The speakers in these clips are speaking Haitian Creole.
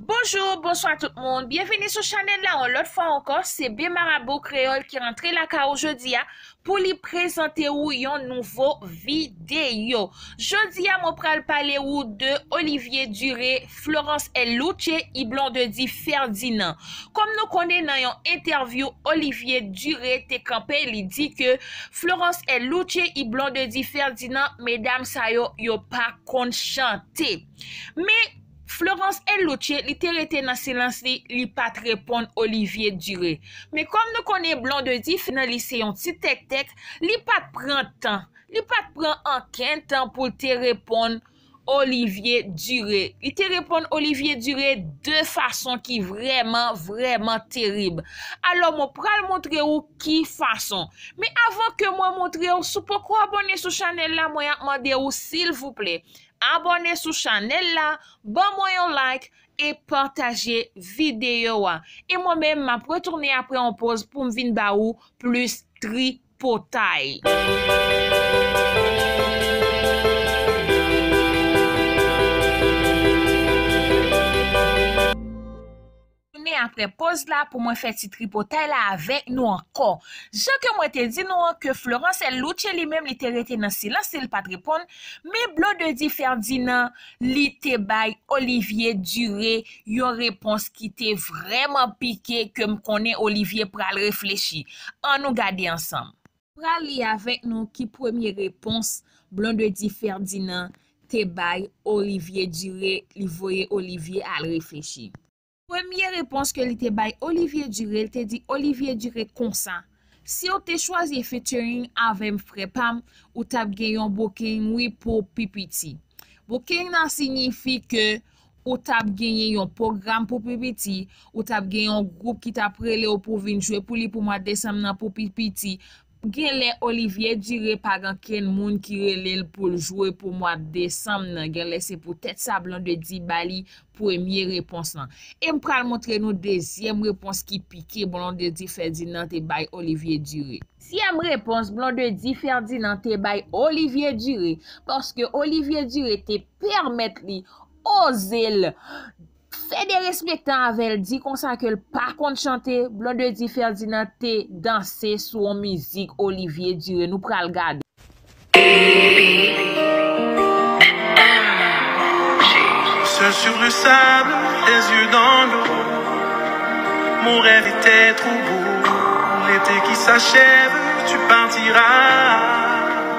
Bonjour, bonswa tout moun, byenvini sou chanèl la yon lòt fwa ankò, se B Marabo Kreyòl ki rantre lakay ou jodi a pou li prezante ou yon nouvo videyo. Jodi a mwen pral pale ou de Olivier Duré, Florence El Louche, y Blondedy Ferdinand. Kòm nou konnen nan yon entèvyou Olivier Duré te kanpe li di ke Florence El Louche, y Blondedy Ferdinand medam sa yo yo pa konn chante. Men Florence Eluce li te rete nan silans li, li pat reponn Olivier Duré. Men kòm nou konnen Blondedy fi nan li se yon ti tèktèk, li pat pran tan, li pat pran ankenn tan pou l te reponn Olivier Duré. Li te reponn Olivier Duré de fason ki vrèman, vrèman terib. Alò mwen pral montre ou ki fason. Men avan ke mwen montre ou, si w poko abòne sou chanèl la, mwen ap mande ou silvouplè, Abòne sou chanèl la, ban mwen yon like e pataje videyo a. E mwen menm map retounen apre yon poz poum vin ba ou plis tripotay. retounen apre poz la pou mwen fè ti tripotay la avèk nou ankò. Jan ke mwen te di nou an ke Florence El Louche li menm li te rete nan silans li, li pat reponn, men Blondedy Ferdinand li te bay Olivier Duré yon repons ki te vrèman pike ke m konnen Olivier pral reflechi. An nou gade ansanm. Pral li avèk nou ki premye repons Blondedy Ferdinand te bay Olivier Duré li voye Olivier al reflechi. Premye repons ke li te bay Olivier Duré li te di Olivier Duré konsa, siw te chwazi featuring avèm frè pam ou tap gen yon booking wi pou pi piti. Booking nan signifi ke ou t ap genyen yon pwogram pou pi piti, ou t ap gen yon gwoup ki t ap rele w pou w vin jwe pou li pou mwa desanm nan pou pi piti. Gen lè Olivier Duré pa gen ankenn moun ki rele l pou l jwe pou mwa desanm nan, gen lè se pou tèt sa Blondedy ba li premye repons lan. E m pral montre nou dezyèm repons ki pike Blondedy Ferdinand te bay Olivier Duré. Zyèm repons Blondedy Ferdinand te bay Olivier Duré, paske Olivier Duré te. pèmèt li oze l fè derespektan avè l di konsa ke l pa konn chante Blondedy Ferdinand te danse sou yon mizik Olivier Duré nou pral gade.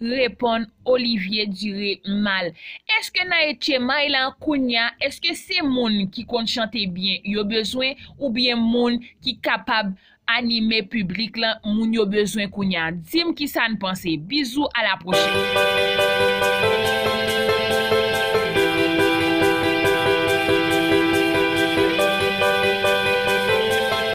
Reponn Olivier Duré mal. Eske nan etchemay lan kounya eske se moun ki konn chante byen yo bezwen ou byen moun ki kapab anime piblik lan moun yo bezwen kounya dim kisa n panse bizou a la pwochèn.